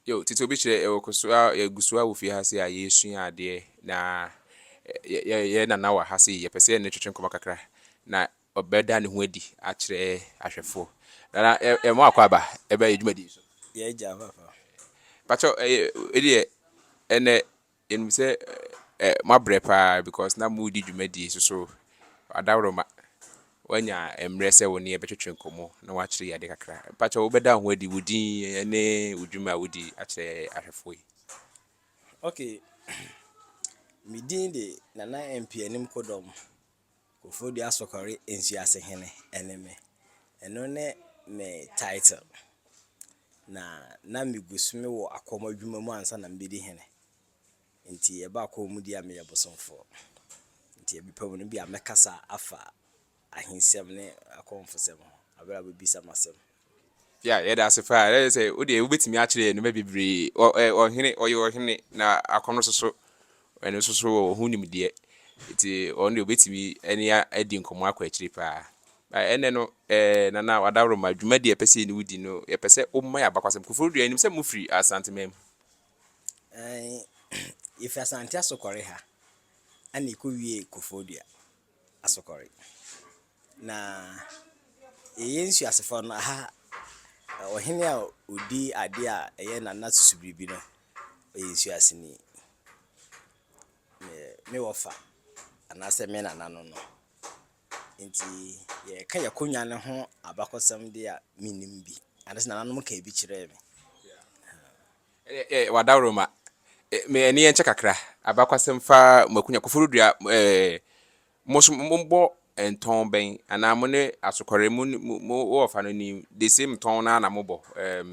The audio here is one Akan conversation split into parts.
Yo, tete obi kyerɛ yɛ wɔ kɔ so a yɛ gu so a wɔ fie ha se a yɛ sua adeɛ na yɛ yɛ nana wɔ ha se yɛ pɛ sɛ yɛ ne no twetwe nkɔmɔ kakra na ɔbɛ da ne ho adi akyerɛ ahwɛfoɔ. Nana yɛ yɛ mo akɔ aba ɛbɛ yɛ dwumadie so. Yɛ agya papa. Pakyɛw ɛyɛ ɛdeɛ ɛnɛ Yɛnim sɛ moabrɛ paa because na moredi dwumadie so so adaworoma woanya mmerɛ sɛ wo ne yɛn bɛtwetwe nkɔmmɔ na woakyerɛ yɛn ade kakra. Mpakyɛ wobɛda wo ho adi, wo din ne wo dwuma a wodi akyerɛ yɛn ahwɛfoɔ yi. Okay, me din de Nana Mpianim Kodɔm. Kofodua Sokɔre Nsuase Hene ne me. Ɛno ne me title. Na na megu so mewɔ akɔm adwuma mu ansa na mebɛdi hene. Nti ɛbaa kɔnmudeɛ a meyɛ bosomfoɔ. Nti ɛbɛpɛ mu no ebia mɛkasa afa ahensɛm ne akɔmfosɛm ho berɛ a wobɛbisa me asɛm no. Yeah, yeah, that's it. That is it. Odi, we betimi akyerɛ no bebree. Ɔ ɛ ɔhene, ɔyɛ ɔhene na akɔno soso. Ɛno soso wɔ ho nimdeɛ. Nti ɔno de obetimi ɛne adi nkɔmɔ akɔ akyiri paa. Na ɛnɛ no, ɛɛ nana wadaworo ma dwuma di ɛpɛ sɛ ne wodi no, yɛpɛ sɛ ɔma yɛ abakwasɛm. Koforo dua anim sɛ mo firi Asante man mu. Ɛɛ, yɛfiri Asante Asokɔre ha, ɛna ɛkɔwie Koforo dua. asokɔre. Na yɛyɛ nsuasefo no, aha ɔhene a odi ade a ɛyɛ Nana Susubiribi no, ɔyɛ nsuaseni. Me me wɔfa anaasɛ me nana no no. Nti yɛreka yɛn akonnwa no ho abakɔsɛm deɛ a, mennim bi. Anaasɛ nananom kaa bi kyerɛɛ me. Eh eh Wadawroma eh me ani ɛnkyɛ kakra. Abakwasɛm fa Makunya Koforidua eh Mo so mobɔ ntɔn bɛn anaa mo ne Asokɔre mo mo wɔ ɔfa no ni the same tɔn no ara na mobɔ eh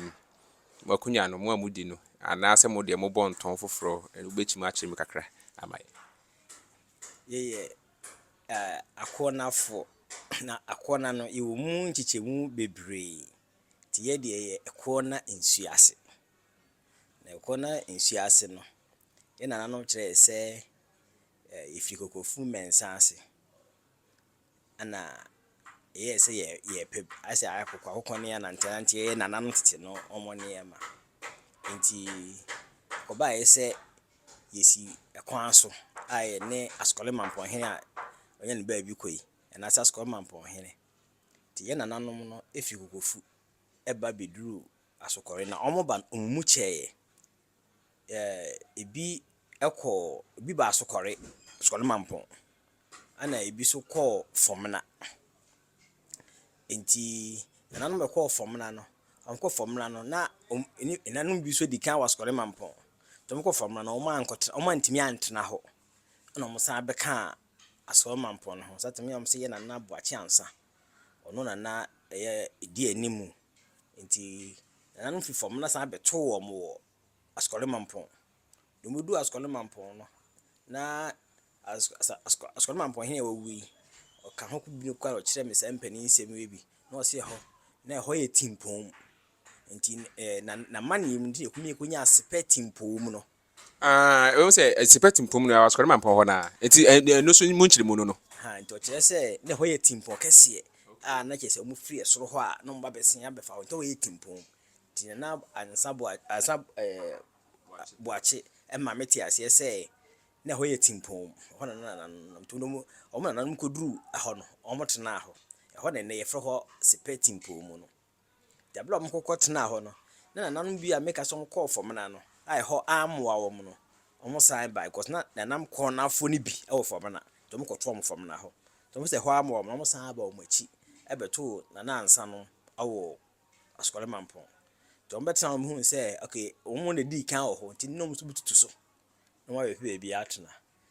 Makunya no mo a modi no anaa sɛ mo deɛ mobɔ ntɔn foforɔ wobɛtumi akyerɛ mu kakra ama yɛn. Yɛyɛ eh Akoɔnafoɔ na Akoɔna no yɛwɔ mu nkyekyɛmu bebree Nti yɛ deɛ yɛ ɛkoɔ na nsuo ase. Na ɛkoɔ na nsuo ase no, yɛ nananom kyerɛ yɛ sɛ yɛfiri kokofu mmɛnsa ase. Ɛna ɛyɛɛ sɛ yɛ yɛpɛ ayɛ sɛ akokoakoko ne ananteananteɛ yɛ nananom tete no wɔn nneɛma. Nti ɛkɔbaeɛ sɛ yɛsi ɛkwan so a yɛne Asukɔlemammpɔnhene a ɔnya ne baabi kɔ yi, anaasɛ Asukɔlemammpɔnhene Nti yɛn nananom no fi Kokofu ba bɛduruu Asokɔre na wɔn ba no wɔn mu kyɛeɛ. Ɛbi kɔɔ, ɛbi baa Asokɔre, Asokɔre Mampong, ɛna ɛbi nso kɔɔ Fɔmena. Nti nananom a wɔkɔɔ Fɔmena no, wɔkɔɔ Fɔmena no na wɔn ani, nananom bi nso dii kan wɔ Asokɔre Mampong. Nti wɔkɔɔ Fɔmena no wɔantumi antena hɔ, ɛna wɔsan bɛkaa Asoɔe Mampong no ho. Satan miaa wɔn sɛ yɛ Nana Boakye Ansah. Ɔno na na ɛyɛ edi anim. Nti Nananom fi fam na san bɛtoo wɔn wɔ Asoɔe Mampong. Deɛ wɔbɛduu Asoɔe Mampong no, na as as Asoɔe Asoɔe Mampong hene a wawu yi, ɔka ho biribi koraa na ɔkyerɛɛ me saa mpanin nsɛm yi bi, na ɔse ɛhɔ, na ɛhɔ yɛ Timpong. Nti ɛɛ na n'amanneɛ mu nti na ɛkumi kɔnyaa Sepɛ Timpong mu no. Aah ɛwom sɛ ɛte pɛ tempɔn no asɔre ma mpɔn hɔ no ara nti ɛno nso mu nkyerɛmu no no. Ahaa nti ɔkyerɛ sɛ na ɛhɔ yɛ tempɔn kɛseɛ a na kyerɛ sɛ wɔn firi ɛsoro hɔ a na wɔn ba bɛsen abɛfa hɔ nti na ɛhɔ yɛ tempɔn nti Nana Ansa Boa Ansa ɛɛ Boakye ɛma me te aseɛ sɛ na ɛhɔ yɛ tempɔn ɛhɔ na na Nana no nam nti wɔn wɔn Nana nom kɔduru ɛhɔ no wɔn tenaa hɔ ɛhɔ na ɛnnɛ yɛfrɛ hɔ Sepɛ tempɔn mu no. Na bere a wɔkɔkɔ tenaa hɔ no, na nananom bi a meka sɛ wɔkɔɔ Fɔmena no a ɛhɔ ammoa wɔn no, wɔsan bae because na nanam kɔɔnafoɔ no bi wɔ Fɔmena, nti wɔkɔtoo wɔn Fɔmena hɔ. Nti wɔn sɛ ɛhɔ ammoa wɔn no, wɔsan aba wɔn akyi bɛtoo Nana Ansa no wɔ Asukɔre Mampong. Nti wɔbɛtenaa hɔ no mehuu sɛ okay wɔn na ɛdii kan wɔ hɔ nti na wɔn nso bɛtutu so na wɔayɛ pɛ baabi atena.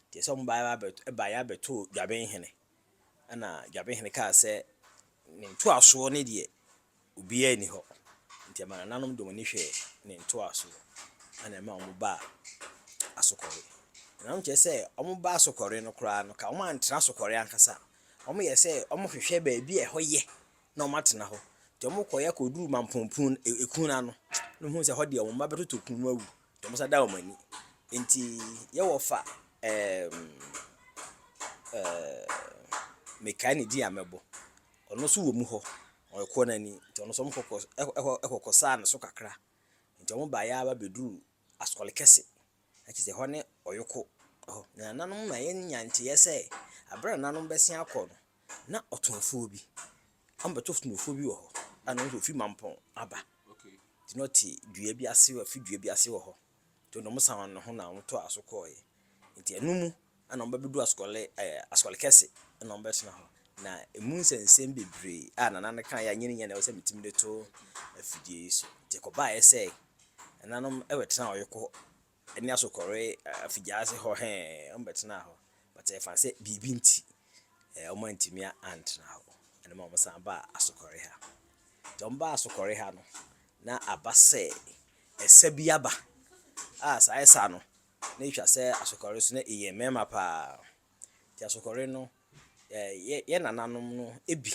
Nti ɛsɛ wɔn baeɛ abɛtoo Dwabenhene. Ɛnna Dwabehene kaa sɛ, Ne ntoasoɔ no deɛ, obiara nni hɔ. Nti ɛmaa nananom de wɔn ani hwɛɛ ne ntoasoɔ, ɛnna ɛmaa wɔbaa Asokɔre. Nananom kyerɛ sɛ wɔba Asokɔre no koraa no, ka wɔantra Asokɔre ankasa. Wɔyɛ sɛ wɔhwehwɛ baabi a ɛhɔ yɛ na wɔatena hɔ. Nti wɔkɔeɛ kɔduruu Mampɔn Pon, ɛkun no ano, na wɔhuu sɛ ɛhɔ deɛ wɔn mma bɛtotɔ kun mu awu. Wɔn nsa da wɔn ani. Enti yɛwɔ fa ɛɛm ɛɛm mekae ne din a mɛbɔ. Ɔno nso wɔ mu hɔ. Ɔyɛ Kɔɔnani. Nti ɔno nso wɔn kɔkɔ ɛkɔ ɛkɔkɔ saa ne so kakra. Nti wɔn baeɛ ara ba bɛduruu Asɔre kɛse. Na kyerɛ sɛ ɛhɔ ne Ɔyoko hɔ. Na nananom ma yɛnya nteɛ sɛ, berɛ a nananom bɛsen akɔ no, na ɔtomfoɔ bi abɛto ɔtomfoɔ bi wɔ hɔ a na ɔno nso ɔfiri Mampɔn aba. Nti na ɔte dua bi ase wɔ afi dua bi ase wɔ hɔ. Nti na wɔsan wɔn ho na wɔtoaa so kɔeɛ. Nti ɛno mu na wɔbɛbɛdu asukɔle ɛɛ asukɔle kɛse na wɔbɛtena hɔ. Na ɛmu nsɛnsɛm bebree a Nana no kaeɛ a nyɛ ne nyɛ na ɛwɔ sɛ metumi de to afidie yi so. Nti ɛkɔbaeɛ sɛ ɛnanom ɛbɛtenaa Ɔyoko ne asokɔre afigya ase hɔ hɛɛɛ, wɔbɛtenaa hɔ, but ɛfa sɛ biribi nti wɔantumi antena hɔ, ɛno ma wɔsan baa asokɔre ha. Nti wɔbaa asokɔre ha no, na aba sɛ ɛsa bi aba, a saa ɛsa no, na ɛtwa sɛ asokɔre so na ɛyɛ mmarima paa. Nti asokɔre no, yɛ nananom no bi.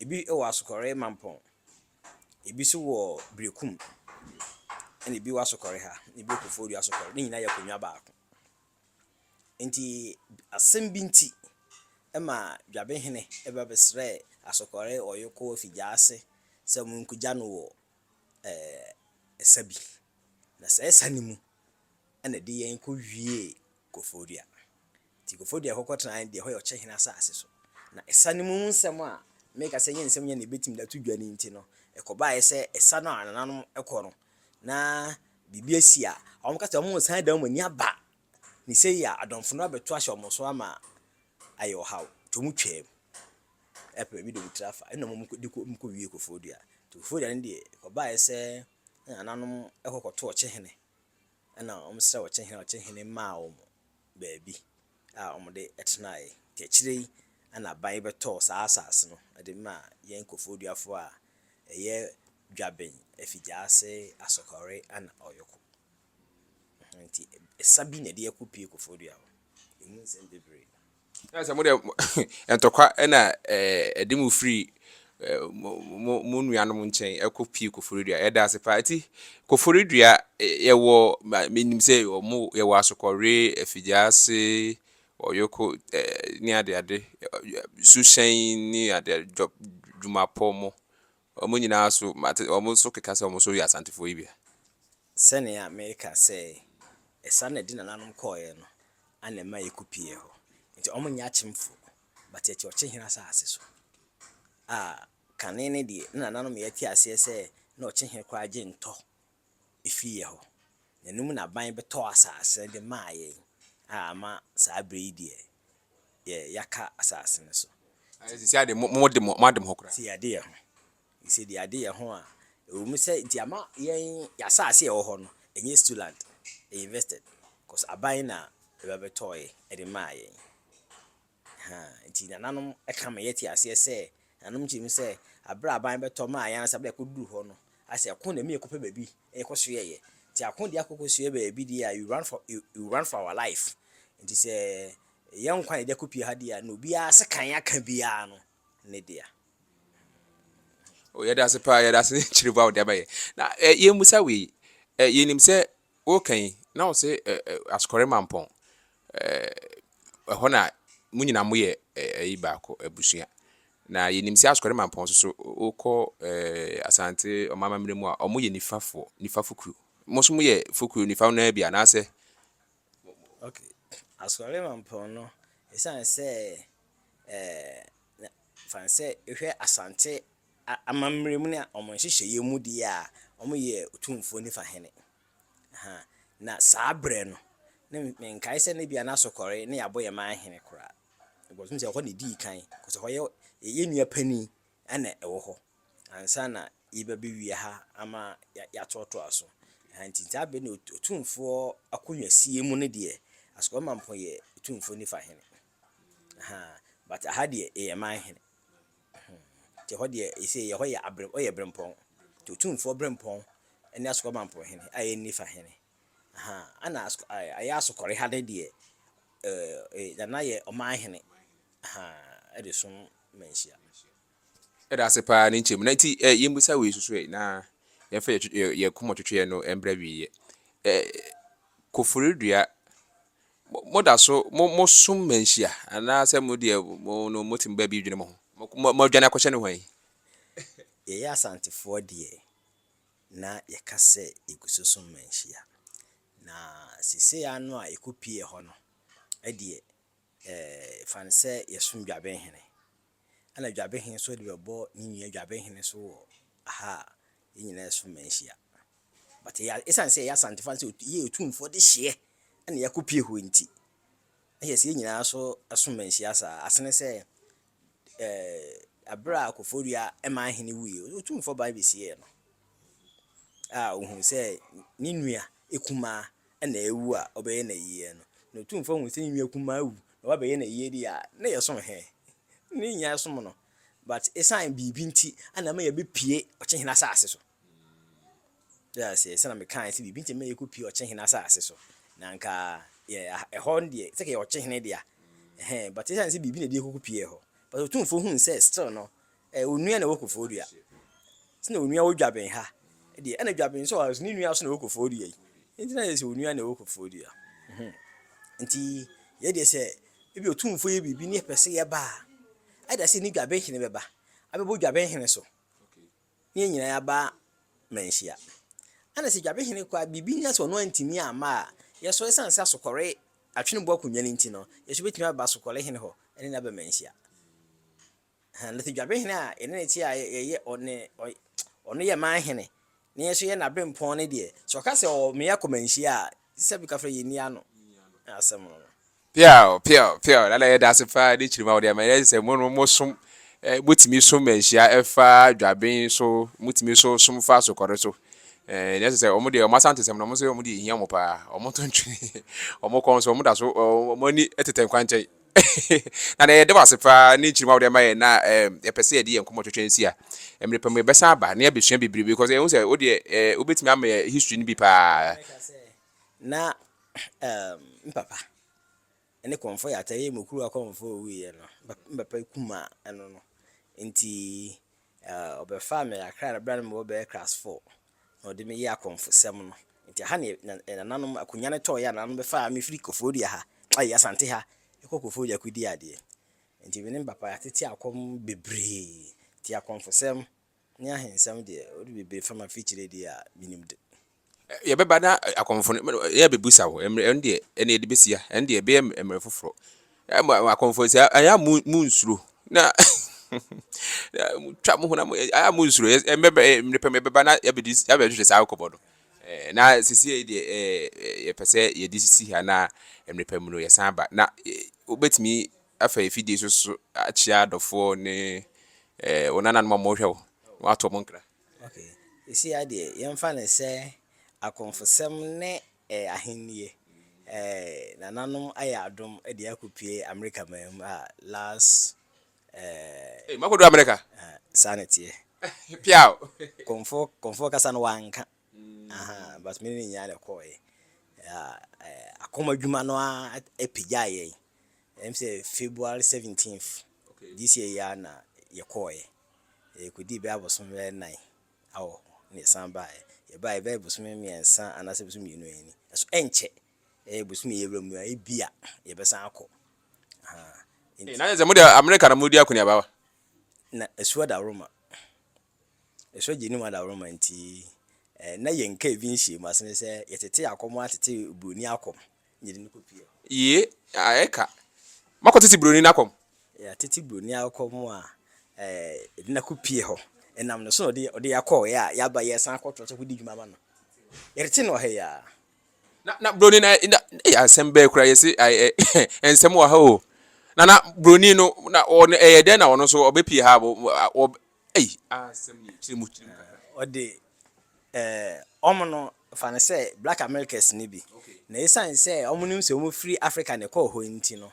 Ebi wɔ Asokɔre Mampɔn, ebi nso wɔ Berekum, ɛna ebi wɔ Asokɔre ha, na ebi wɔ Koforidua Asokɔre. Ne nyinaa yɛ akonnwa baako. Enti asɛm bi nti ma Dwabehene ba bɛsrɛɛ Asokɔre Ɔyɔkɔ fi gya ase sɛ monkogya no wɔ ɛsa bi. Na saa ɛsa no mu na ɛde yɛn kɔwiee Koforidua. Enti nkurɔfoɔ de ɛhɔ kɔtenaeɛ no deɛ, ɛhɔ yɛ ɔkyehene asase so. Na ɛsa no mu nsɛm a meka sɛ ɛnyɛ nsɛm nyɛ na yɛbɛtumi de ato dwa no nti no, ɛkɔbaeɛ sɛ ɛsa no a nananom kɔ no, na biribi asi a, wɔka sɛ wɔresan de wɔn ani aba, ne sei a adɔmfo no abɛto ahyɛ wɔn so ama ayɛ ɔhaw. Nti wɔtwaam ɛpere bi de wɔn tiri afa, ɛnna wɔn de kɔ wɔn kɔwiee Koforidua. Nti Koforidua no deɛ, ɛkɔbaeɛ sɛ na nananom kɔ kɔto ɔkyehene, ɛnna wɔsrɛɛ ɔkyehene a ɔkyehene maa wɔn. baabi a wɔde tenae, nti akyire yi na aban bɛtɔɔ saa asase no de maa yɛn Kofoduafoɔ a ɛyɛ Dwaben, Afigyaase, Asokore ɛna Ɔyoko. Nti ɛsa bi na ɛde ɛko pue Kofodua hɔ, ɛmu nsɛm bebree. Ɛna sɛ mo deɛ ntɔkwa ɛna ɛde mo firi mo mo nuanom nkyɛn kɔ pii koforidua. Yɛda ase paa. Nti koforidua yɛwɔ menim sɛ ɔmo yɛwɔ asokɔre, afigyaase, ɔyoko ne ade ade, suhyɛn ne ade ade, dwɔ dwumapɔ mo. Ɔmo nyinaa so mate ɔmo nso keka sɛ ɔmo nso yɛ asantefoɔ yi bia. Sɛnea meka sɛ ɛsa na ɛde nananom kɔeɛ no ana ɛma yɛkɔ pii hɔ. Nti ɔmo nyɛ akyemfo. But yɛte ɔkyehene asase so a kane no deɛ ne nananom yɛ te aseɛ sɛ na ɔkyehene koraa gye ntɔ firi yɛ hɔ. Na ɛno mu na aban bɛtɔɔ asase no de maa yɛn a ama saa berɛ yi deɛ yɛ yɛaka asase no so. Ayɛ sɛ sisi adeɛ mo mo de mo mo ade mo ho koraa. Sisi yɛade yɛ ho. Nsɛnniade yɛ ho a, ɛwɔ mu sɛ nti ama yɛn yɛn asase a ɛwɔ hɔ no, ɛnyɛ Stuland ɛyɛ invested cause aban na ɛba bɛtɔɔɛ ɛde maa yɛn. Ahaa, nti nananom ɛka ma yɛte aseɛ sɛ, nananom kyerɛ mu sɛ, aberɛ a aban bɛtɔ maa yɛn ansa aberɛ a ɛkɔduru hɔ no, asɛ ɛko na ɛma yɛkɔpɛ baabi na yɛkɔsoɛeɛ. Nti ako deɛ akɔ kɔsoɛ baabi deɛ a, you run for, you, you run for our life. Nti sɛ yɛn nkwa na yɛde akɔpue ha deɛ a, na obiara sekan aka biara no, ne dea. Oh, yɛda ase paa, yɛda ase ne kyerɛbu a wode ama yɛ. Na eh, yɛmmusa wei, eh, yɛnim sɛ woka yi, na wo se eh, eh, asokɔre mampɔn, eh, ɛhɔ na mo nyina moyɛ eh, ayi baako, abusua. Na yɛnim sɛ asokɔre mampɔn so so, wokɔ eh, asante ɔma amammerɛ mu a, ɔmo yɛ nifafoɔ, nifa fokuro. Mo so moyɛ fokuro nifa no bi anaasɛ? Okay, asokɔre mampɔn no, ɛsiane sɛ na fa no sɛ ehwɛ Asante amammerɛ mu ne wɔn nhyehyɛeɛ mu deɛ a, wɔyɛ Otumfoɔ nifa hene. Ahaa, na saa berɛ no, na menkae sɛ na ebia na Asokɔre ne Aboyɛman hene koraa. Because mehu sɛ ɛhɔ na ɛdii kan, because ɛhɔ yɛ yɛn nua panin na ɛwɔ hɔ ansa na yɛba bɛwie ha ama yɛatoatoa so. Ahaa, nti saa berɛ no Otumfoɔ akonnwasie mu no deɛ, Asokɔre Mampong yɛ Otumfoɔ nifa hene. Ahaa but aha deɛ yɛ man hene nti ɛhɔ deɛ ɛsei ɛhɔ yɛ abre ɔyɛ brempɔn nti otumfoɔ brempɔn ɛne asokɔ mampɔn hene a ɛnni fa hene ahaa ɛna ayɛ asokɔre ha de deɛ ɛɛ nana yɛ ɔman hene ahaa ɛde som manhyia. Yɛda ase paa ne nkyɛmu na nti ɛ yɛmmisa wei soso ɛ na yɛmfa yɛ yɛ kɔmɔtwetweɛ no mbra wieɛ ɛ koforidua Moda so mo mo som ma nhyia anaa sɛ mo deɛ mo no mo tim baabi dwene mo ho? Mo adwane akɔhyɛ no hwan? Yɛyɛ Asantefoɔ deɛ na yɛka sɛ yɛgu so som ma nhyia na seesei ara no a yɛkɔ pue hɔ no deɛ eh fa no sɛ yɛsom Dwabenhene. ɛna dwabehe nso de bɛbɔ ne nua dwabehe no so wɔ ha a yɛn nyinaa ɛso ma nhyia but yɛ ɛsiane sɛ yɛyɛ asantefoɔ sɛ yɛ otumfoɔ de hyeɛ ɛna yɛakɔ pie hɔ nti na yɛ sɛ yɛn nyinaa so ɛso ma nhyia saa asene sɛ ɛɛ eh, abere a kɔfɔdua ɛma ahene wuie otumfoɔ ban bɛsieɛ no a ohun sɛ ne nua ekumaa na awu a ɔbɛyɛ no ayiyɛ no, na otumfoɔ hu sɛ ne nua kumaa awu na wabɛyɛ no ayiyɛ deɛ a, na yɛsom he? Na yɛnnya nsom no. But esiane biribi nti na ɛma yɛbɛpue ɔkyehene asase so. Wote aseɛ? Sɛnea mekaeɛ sɛ biribi nti na ɛma yɛkɔpue ɔkyehene asase so. Na anka yɛ, ɛhɔ no deɛ, sɛ yɛwɔ ɔkyehene deɛ a, ɛhɛn, but esiane sɛ biribi na ɛde yɛkɔkɔpuee hɔ. But otumfoɔ huu sɛ still no, Ɛyɛ onua na ɛwɔ kofoɔ dua. Sɛ na onua wɔ dwaben ha deɛ ɛna dwaben sɛ ɔsɛ ne nua so na ɛwɔ kofoɔ dua yi. Nti na yɛ sɛ onua na ɛwɔ kofoɔ dua. Nti yɛ deɛ sɛ ebi otumfoɔ yɛ biribi ne yɛpɛ sɛ yɛba a, ɛda sɛ ne dwaben hene bɛba abɛbɔ dwaben hene so ne yɛn nyinaa yɛaba manhyia. Ɛna sɛ dwaben hene kɔ a biribi nya sɛ ɔno antumi amma a, yɛ so ɛsiane sɛ asokɔre atwene bo akonnwa no nti no, yɛ so bɛtumi aba asokɔre hene hɔ ne no aba manhyia. Ahaa, na sɛ dwabehene a yɛne no te a yɛyɛ ɔne ɔy ɔno yɛ man hene, na yɛn nso yɛ n'aberempɔn no deɛ, sɛ ɔka sɛ ɔwɔ mmea kɔmanhyia a, gye sɛ bɛka frɛ yɛnni ano asɛm no. Peaw! Peaw! Peaw! Dada, yɛda ase paa ne kyerem a wode ama yɛn. Yɛagye sɛ mo no mosom, eh, motumi som manhyia ɛfa dwaben so, motumi nso som fa asokɔre so. Eh, nea ɛsɛ sɛ wɔn deɛ wɔn Asantesɛm no, wɔn nso wɔn deɛ ehia wɔn paa. Wɔn nto ntwene, wɔn kɔn nso wɔn da so, wɔn ani tetɛ nkwankyɛn. Nana yɛda wo ase paa ne nkyeremu a wode ama yɛn na yɛpɛ sɛ yɛde yɛn nkɔmmɔ twɛtwɛ nsi a mmerɛ pa mu yɛbɛsan aba na yɛabɛsua bebrebe because ɛhu sɛ wo deɛ wobɛtumi ama yɛ history no bi paa. Na mpapa ne kɔmfo yɛ atɛyɛ mu kuru akɔmfo owuiɛ no mpapa kuma ɛno no nti ɔbɛfa me akra no berɛ no mewɔ bɛyɛ class 4 Na ɔde me yɛɛ akɔmfosɛm no. Nti ɛha ne nananom akonya no tɔɔeɛ a nananom bɛfaa me firi Koforidua ha, ai Asante ha, kɔ Koforidua kɔdii adeɛ. Nti me ne me papa yɛatete akɔm bebree. Nti akɔmfosɛm ne ahensɛm deɛ, wode bebree fa m'afikyire deɛ a, menim de. Yɛbɛba na akɔmfo no, yɛbɛbusa wo. Ɛndeɛ, ɛnneɛ yɛde bɛsi ha. Ɛndeɛ, ɛbɛyɛ mmerɛ foforɔ. Ɛ mo mo akɔmfoɔ nti ayɛ ayɛ a mo mo nsuro na twa mo honam ayɛ a mo nsuro yɛ ɛmɛ bɛ ɛmɛ pɛ mɛ bɛba na yɛbɛdi yɛbɛhwehwɛ saa akɔbɔ no ɛɛ na sisi yɛ deɛ ɛɛ yɛpɛ sɛ yɛde sisi ha na ɛmɛ pɛ mu no yɛsan ba na wobɛtumi afa efidie so so akyia adɔfoɔ ne ɛɛ wɔn nananom a wɔhwɛ wo wɔn ato wɔn nkra. Okay. Ɛsi adeɛ, yɛmfa no sɛ akɔmfosɛm ne Ɛyɛ ahennie. Ɛɛ nananom ayɛ adom de akɔpue Amerika man mu a last ɛɛ. Ei makɔduru Amerika. Aha saa na ɛteɛ. Piaw. Kɔmfoɔ kɔmfoɔ kasa no wanka aha but me ne no nyinaa na ɛkɔɔeɛ ɛɛ ɛɛ akoma adwuma no ara ɛpagyaa yɛn ɛm sɛ February seventeenth this year yi ara na yɛkɔɔeɛ yɛkɔdii bɛyɛ abosom bɛyɛ nnan. awɔ hɔ na yɛsan baeɛ. Yɛbaeɛ ɛbɛyɛ bosome mmiɛnsa anaasɛ bosome mmienu yɛn ni. Nanso ɛnkyɛ, ɛyɛ bosome yɛwura mu yi a, ebia yɛbɛsan akɔ. Ahaa. Ee, na Nti, ayɛ sɛ mo deɛ Amerika na moredi akɔneaba wa? na ɛsu adaworoma. Ɛsu agye anim adaworoma nti, eh, na yɛn kaa bi nhyiam ase ne sɛ yɛtete akɔm atete buroni akɔm. Yee a ɛka. Moakɔ tete buroni no akɔm. Yea tete buroni akɔm a yɛde no akɔ pie hɔ. Ɛnam ne so na ɔde yɛn akɔɔɛ a yɛaba yɛresan akɔtoa so akɔdi dwuma ama no. Yɛrete no wɔ ha yi ara. Na na buroni no na ei asɛm bɛɛ kura yɛse ɛɛ nsɛm wɔ ha o. Na na buroni no na ɔno ɛyɛ dɛn na ɔno nso ɔbɛpie ha a wɔ Ei aa asɛm nie kyerɛ mu kyerɛ mu kakra. Ɔde eh ɔmo no fa no sɛ black Americas no bi na esiane sɛ ɔmo nim sɛ ɔmo firi Africa na ɛkɔɔ hɔ nti no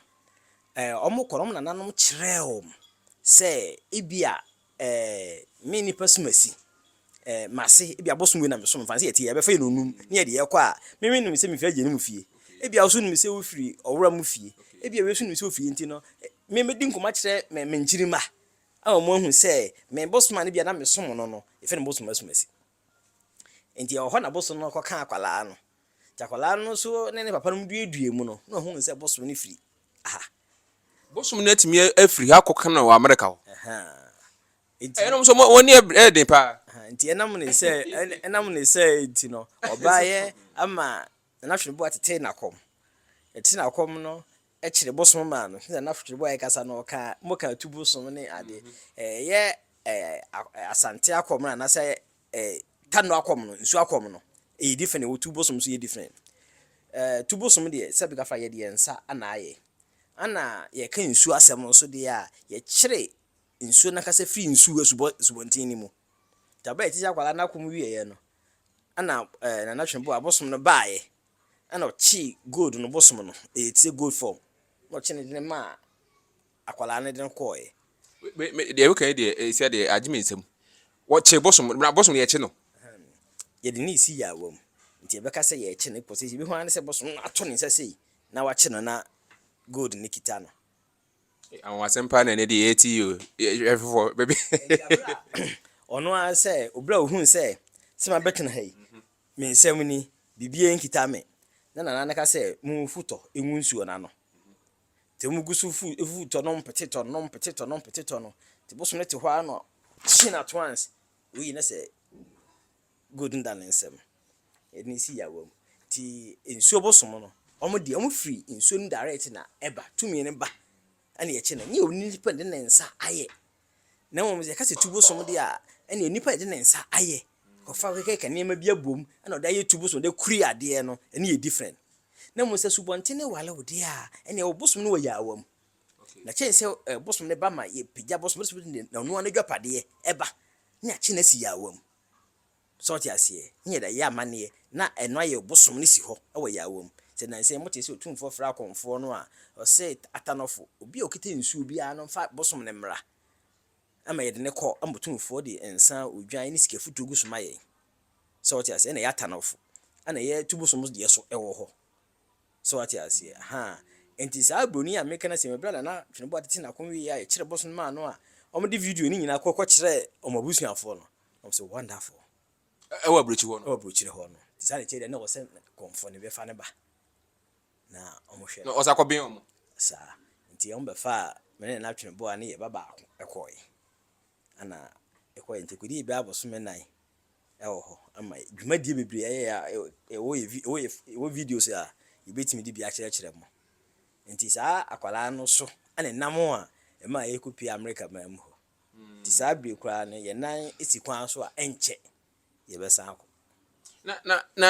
eh ɔmo kɔ na ɔmo nananom kyerɛɛ ɔmo sɛ ebi a eh me nipa som asi eh mase ebi a bosom wei na me som fa no sɛ yɛte yɛ bɛfa yɛn nonum ne yɛde yɛkɔ a me me nim sɛ me firi agya no mu fie ebi a wo nso nim sɛ wo firi ɔwura mu fie ebi a wei nso nim sɛ ofie nti no me mɛdi nkɔmɔ akyerɛ me me nkyiri mma Ama wɔahu sɛ me bosom a no bi a na mesom no no, yɛfrɛ no bosom asumasi. Enti ɛwɔ hɔ na bosom no kɔka akwadaa no. Nti akwadaa no nso ne ne papa nom duadua mu no, na ɔhunu sɛ bosom no firi ha. Bosom no atumi afiri ha akɔka no wɔ Amerika hɔ. Nti. Ɛnom nso wɔn ani ɛyɛ den paa. Nti ɛnam ne sɛ ɛnam ne sɛ nti no ɔbaayɛ ama Nana Hweneboa tetee n'akɔm. Ɛte n'akɔm no kyere bosom maa no. Sɛnea na Frederick Boyer kasa no, ɔka mmɔ ka tu bosom ne ade. Ɛyɛ Asante akɔm no anaasɛ Kano akɔm no, nsu akɔm no, ɛyɛ different, ɛwɔ tu bosom nso yɛ different. Tu bosom deɛ sɛ bɛka fa yɛde yɛn nsa ana ayɛ. Ana yɛka nsuo asɛm nso deɛ a, yɛkyere nsuo no ankasa firi nsu asubɔ asubɔnten no mu. Nti abɛyɛ tete akwadaa no akɔm wieeɛ no, ana Nana Twene Boyer bosom no baeɛ. Ɛna ɔkyee gold no bosom no, ɛyɛ tire gold fam, na ɔkye no de no maa akwadaa no de no kɔeɛ. Me me deɛ woka yi deɛ ɛsɛ eh, deɛ agye me nsam. Wɔkye bosom na bosom no yɛkye no. Ahem, yɛde no resi yaawa mu nti yɛbɛka sɛ yɛrekye no kɔsɛ yɛbɛhu ara ne sɛ bosom no ato ne nsa sei na wakye no na gold no kita no. Eh, anwanwasɛm paa na ɛnɛ deɛ yɛte yi o, yɛhwɛ foforɔ bɛbi. Nti abere a ɔno ara sɛ obere a ohun sɛ sɛ mabɛtena ha yi Me nsɛm ni, biribiara nkita me. Na Nana no ka sɛ, Munfu tɔ ngu nsuo no ano. Nti wɔgu so fu fu tɔ nom pete tɔ nom pete tɔ nom pete tɔ no. Nti Bosom no te hɔ ara na ɔkye no at once. Woi na sɛ Golden Dawn nsɛm. Yɛde no si yaawa mu. Nti nsuo Bosom no, wɔn deɛ wɔn firi nsuo no direct na ɛba. Tumi no ba na yɛkye no. Nyɛ onipa de ne nsa ayɛ Na mmom sɛ yɛka sɛ tubo som deɛ a, ɛnneɛ onipa a ɔde ne nsa ayɛ, kɔfa kɛkɛkɛ nneɛma bi abom na ɔde ayɛ tubo som de kuri adeɛ no, ɛno yɛ different. Na mmom sɛ subɔnten no ware wo deɛ a, ɛnneɛ wo bosom no wɔ yaawa mu. Na kyɛn sɛ bosom no ba ma yɛpagya bosom no, na ɔno ara n'adwapadeɛ ba, ne yɛakye no asi yaawa mu. So wote aseɛ? Ne yɛda yɛ amanneɛ, na ɛno ayɛ ɔbosom no si hɔ wɔ yɛn awam. Sɛ nnansa yi motee sɛ Otumfoɔ frɛɛ akɔmfoɔ no a ɔse, Atanɔfo, obi a ɔkita nsuo biara no mfa bosom no mmra ma yɛde no kɔ, ama Otumfoɔ de nsa, odwan ne sika futuo gu so ma yɛn. So wote aseɛ? Ɛna ɛyɛ atanɔfo na yɛtu bosom deɛ so wɔ hɔ. So wote aseɛ? Ahaa. Enti saa Broni a mereka no asɛm yi, berɛ a Nana Tweneboa tete n'ako wieeɛ a yɛkyerɛɛ bosom no maa no a wɔde video no nyinaa kɔ kɔkyerɛɛ wɔn abusuafoɔ no, Na ɔsɛ wonderful. Ɛwɔ aburokyiri hɔ no. Ɛwɔ aburokyiri hɔ no. Te saa ne kyɛ deɛ na ɔsɛ kɔnfɔ ne bɛfa ne ba. Na ɔmo hwɛ. Na ɔsɛ akɔben ɔmo. Saa. Nti ɔmo bɛfaa me ne Nanatwene boa ne yɛ ba baako ɛkɔɔɛ. Ɛna ɛkɔɔɛ nti ɛkɔdii bɛɛ abosome nnan ɛwɔ hɔ. Ama yɛ dwumadie bebree ayɛ a ɛwɔ yɛ vi ɛwɔ yɛ ɛwɔ videos a yɛbɛtumi de bi akyerɛkyerɛ mo. Nti saa akwadaa no so ɛna ɛnam a ɛmaa yɛkɔ pue Amerika man mu hɔ. Nti saa bere koraa no yɛn nan si kwan so a ɛnkyɛ yɛbɛsan akɔ. na na na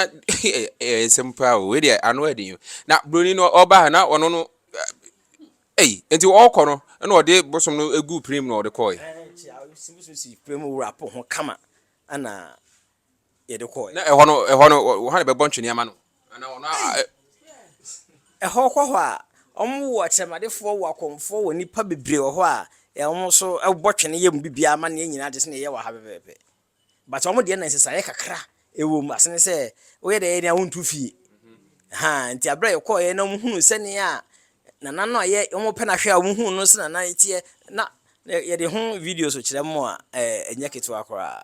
ɛyɛ nsɛm paa o wei deɛ ano ɛde yɛn na broni no ɔba ha na ɔno no ɛyi nti ɔkɔ no ɛna ɔde bosom no egu pirim na ɔde kɔɔ yi. ɛnkyɛ a bosom si pirim wura po ho kama ɛna. yɛde kɔɔɛ. Na ɛhɔ no, ɛhɔ no, wɔ ha na bɛbɔ ntwene ama no? Anaa ɔno a, a, Ɛhɔ kɔ hɔ a, wɔn wɔ akyerɛmadefoɔ, wɔ akɔmfoɔ, wɔ nnipa bebree wɔ hɔ a, yɛ wɔn nso bɔ twene yɛ mu biribiara ama no yɛ nyinaa te sɛ nea yɛyɛ wɔ ha pɛpɛɛpɛ. But wɔn deɛ na nsesaeɛ kakra wɔ mu, asene sɛ woyɛ dɛ yɛ dɛn a wontu fie. Haa, nti aberɛ a yɛkɔɔɛ na wɔn hunuu sɛnea Nana no a yɛ, wɔn pɛ no ahwɛ a wɔn hunuu no sɛ Nana teɛ, na yɛde ho videos kyerɛ wɔn a, ɛɛ, ɛnyɛ ketewa koraa.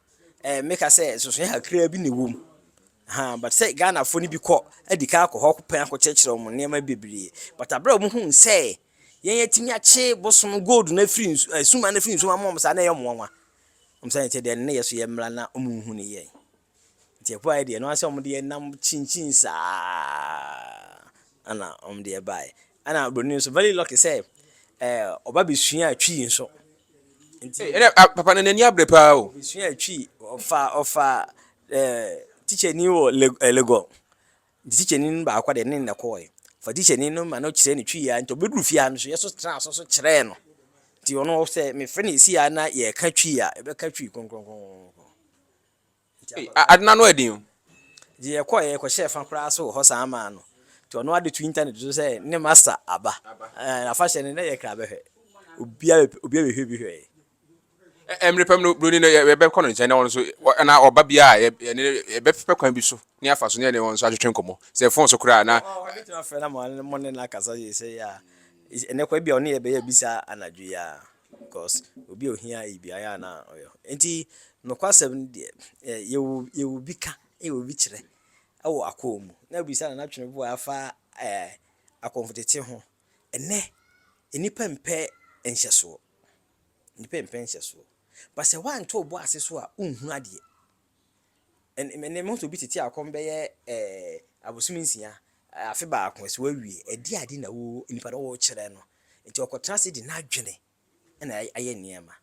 ɛɛ meka sɛ nsonsonoe kakraa bi na ɛwɔ mu. Ahaa but sɛ Ghanafoɔ no bi kɔ adi kan akɔ hɔ akɔpɛ akɔkyerɛkyerɛ wɔn nneɛma bebree. But abere a wɔhuu sɛ yɛn yɛatumi akye bosom gold no afiri nsu ɛɛ suma no afiri nsuma mu wɔn saa na ɛyɛ wɔn nwanwa. Wɔn sɛ ɛkyɛ deɛ ne yɛ so yɛ mmra na wɔnhu ne yɛn. Nti ɛpo ayɛ deɛ ɛno ara sɛ wɔn de yɛn nam kyinkyin saa ɛna wɔn de yɛn baeɛ. Ɛna buroni nso very lucky sɛ ɛɛ ɔba bɛsua twi nso. Nti ɛna ah, papa no n'ani abere paa o. Obesua atwi ɔfa ɔfa eh, tikyani wɔ Lagos. Eh, nti tikyani no baako deɛ ne nnɛ kɔɔɛ. Fa tikyani no ma no kyerɛ no twi yɛ nti ɔbɛduru fie ha no so yɛ so tena so so kyerɛɛ no. Nti ɔno sɛ mefrɛ no ɛsi ha na yɛka twi a, ɛbɛka twi kronkronkron. Ei, ade no ano yɛ den o. Nti yɛkɔeɛ kɔhyɛɛ fa koraa so wɔ hɔ saa maa no. Nti ɔno ara de too internet so sɛ ne master aba. Ɛɛ, afahyɛ no na yɛkra bɛhwɛ. Obiara bɛ, obiara bɛhwɛ bi hwɛeɛ. Ɛ, mmerɛ pa mu no, buroni no yɛ, yɛbɛkɔ no nkyɛn na ɔno nso, na ɔba biara a, yɛ, yɛne no, yɛbɛpɛ kwan bi so na yɛafa so na yɛne wɔn nso atwetwe nkɔmmɔ. Sɛ phone so koraa a, na. Ɔ, ɔbɛtumi afrɛ no ama mo ne no akasa seesei a. Ɛnnɛ koraa, ebia ɔne yɛ bɛyɛ bi saa anadwo yi ara. Because obi a ohia eyi biara yɛ a na ɔyɛ hɔ. Nti nokwasɛm no deɛ, yɛwɔ yɛwɔ bi ka, yɛwɔ bi kyerɛ wɔ akɔm mu. Na bisa Nana Tweneboa afa ɛɛ akɔmfotete ho. Ɛnɛ, nnipa mpɛ nhyɛsoɔ. Nnipa mpɛ nhyɛsoɔ. But sɛ woanto wo bo ase so a, wonhunu adeɛ. Ɛn ɛnnɛ mahu sɛ obi tete akɔm bɛyɛ ɛɛ abosome nsia, afe baako, ɛsɛ wawie. Ɛdeɛ ade na wo nipa no wokyerɛ no. Nti ɔkɔtena ase de n'adwene na ayɛ nneɛma.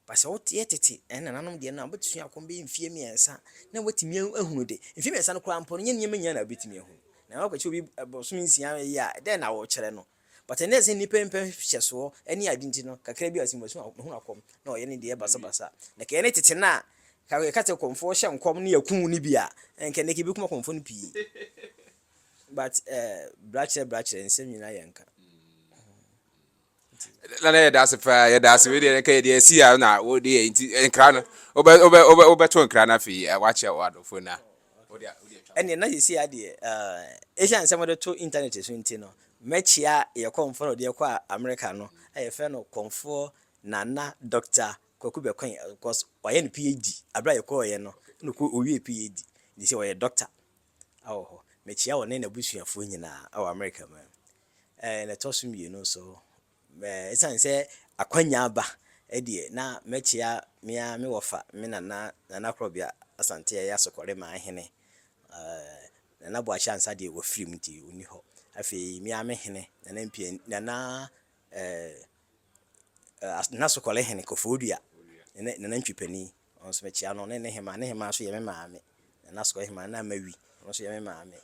Ba sɛ woteɛ tete, ɛn nananom deɛ no a, wobɛsua akɔm bɛyɛ mfeɛ mmiɛnsa na woatumi ahunu de. Mfeɛ mmiɛnsa no koraa mpo no, ɛnyɛ nneɛma nyinaa na wobɛtumi ahunu. Na woakɔkyerɛ obi abosome nsia yi a, dɛn na wokyerɛ no? But ɛnnɛ ɛsen nnipa mpɛ nhwɛsoɔ ne ade nti no kakra bi a ɔse masu mahunu akɔm na ɔyɛ ne deɛ basabasa na kɛyɛ ne tete no a ka yɛka sɛ kɔmfoɔ hyɛ nkɔm ne yɛku no bi a ɛnka ɛnnɛ kɛbɛkum akɔmfoɔ no pii but eh, bra kyerɛ bra kyerɛ nsɛm nyinaa yɛ nka na na yɛda ase paa yɛda ase wei deɛ nka yɛde asi a na wode yɛ nti nkra no wobɛto nkra no afei wakyɛ wɔ adɔfoɔ no a O dear, o dear, ɛneɛ na seesei ara deɛ eh, ɛsiane sɛ mode to internet so nti no, mɛkyea yɛ kɔmfoɔ no a ɔdeɛ kɔɔ America no a yɛfrɛ no kɔmfoɔ Nana Doctor Kwaku Bɛkɔɛn because wayɛ ne PhD aberɛ a yɛkɔɔeɛ no na ɔkɔ ɔwiee PhD nti sɛ ɔyɛ Doctor awɔ hɔ. Mɛkyea ɔne n'abusuafoɔ nyinaa awɔ America man. Eh, na ɛtɔ so mmienu nso Esiane sɛ akwanya aba deɛ, na mɛkyea me ara me wɔfa, me nana, Nana Korɔbea Asante a ɛyɛ Asokɔremaa hene. Nana Boakye Ansah deɛ, wafirim nti ɔnni hɔ. Afei me ara me hene, Nana Mpiaw, Nana Asokɔrehene Koforidua, Nana Ntwi Panin, Ɔno nso mekyia no ne ne hemaa. Ne hemaa nso yɛ me maame. Na n'asokɔre hemaa no na Mawi. Ɔno nso yɛ me maame.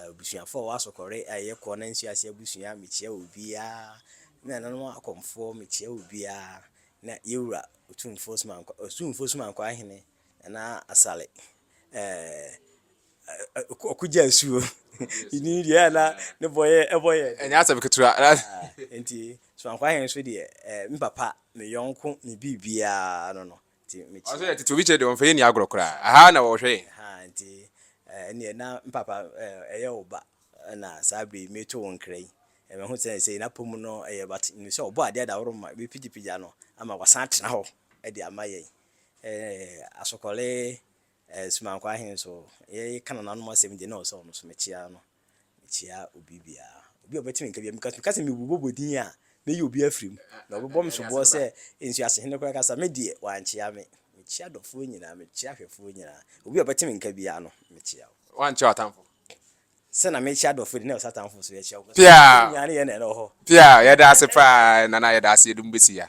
Abusuafoɔ a wɔwɔ asokɔre a ɛyɛ kɔ na nsuo ase abusua, mekyia obiara. Me nananom akɔmfoɔ, mekyia obiara. Na yɛn wura Otumfoɔ Sumankwa, Otumfoɔ Sumankwa Hene Nana Asare ɔkogyaa nsuo Nnim deɛ ɛyɛ a na ne bɔ yɛ ɛbɔ yɛ den Ɛnyɛ asɛm ketewa Nti Soanko Ahen nso deɛ ɛɛ me papa me yɔnko me biribiara no no Nti me kyerɛ Ɔsɛ yɛ tete obi kyerɛ deɛ wɔmfa yɛnni agorɔ koraa Ɛha na wɔhwɛ yɛn Ahaa nti ɛɛ ɛnneɛ na me papa ɛɛ ɛyɛ wo ba na saa berɛ yi mereto wo nkra yi Ɛɛ mahu sɛ seesei n'apɔ mu no ɛyɛ but menim sɛ ɔbɔɔ adeɛ Adaworoma bɛpegyapegya no ama wasan atena hɔ de ama yɛn Eh, Asokɔre eh, Sumankɔ ahe nso yɛka nananom asɛm deɛ na ɔsɛ ɔno so mekyea no mekyea obi biara obi a ɔbɛtumi nka bia because meka sɛ mebobɔbɔ din a mɛyi obi afiri mu na ɔbɛbɔ me soboɔ sɛ nsuasehene koraa kasa me deɛ wankyea me mekyea dɔfoɔ nyinaa mekyea ahwɛfoɔ nyinaa obi a ɔbɛtumi nka biara no mekyea wo wankyea atamfo sɛ na mekyea dɔfoɔ de na ɔsɛ atamfo so yɛkyea wo nyinaa ne yɛ na ɛnɔ hɔ pia yɛda ase paa nana yɛda ase yɛdum bɛsi ya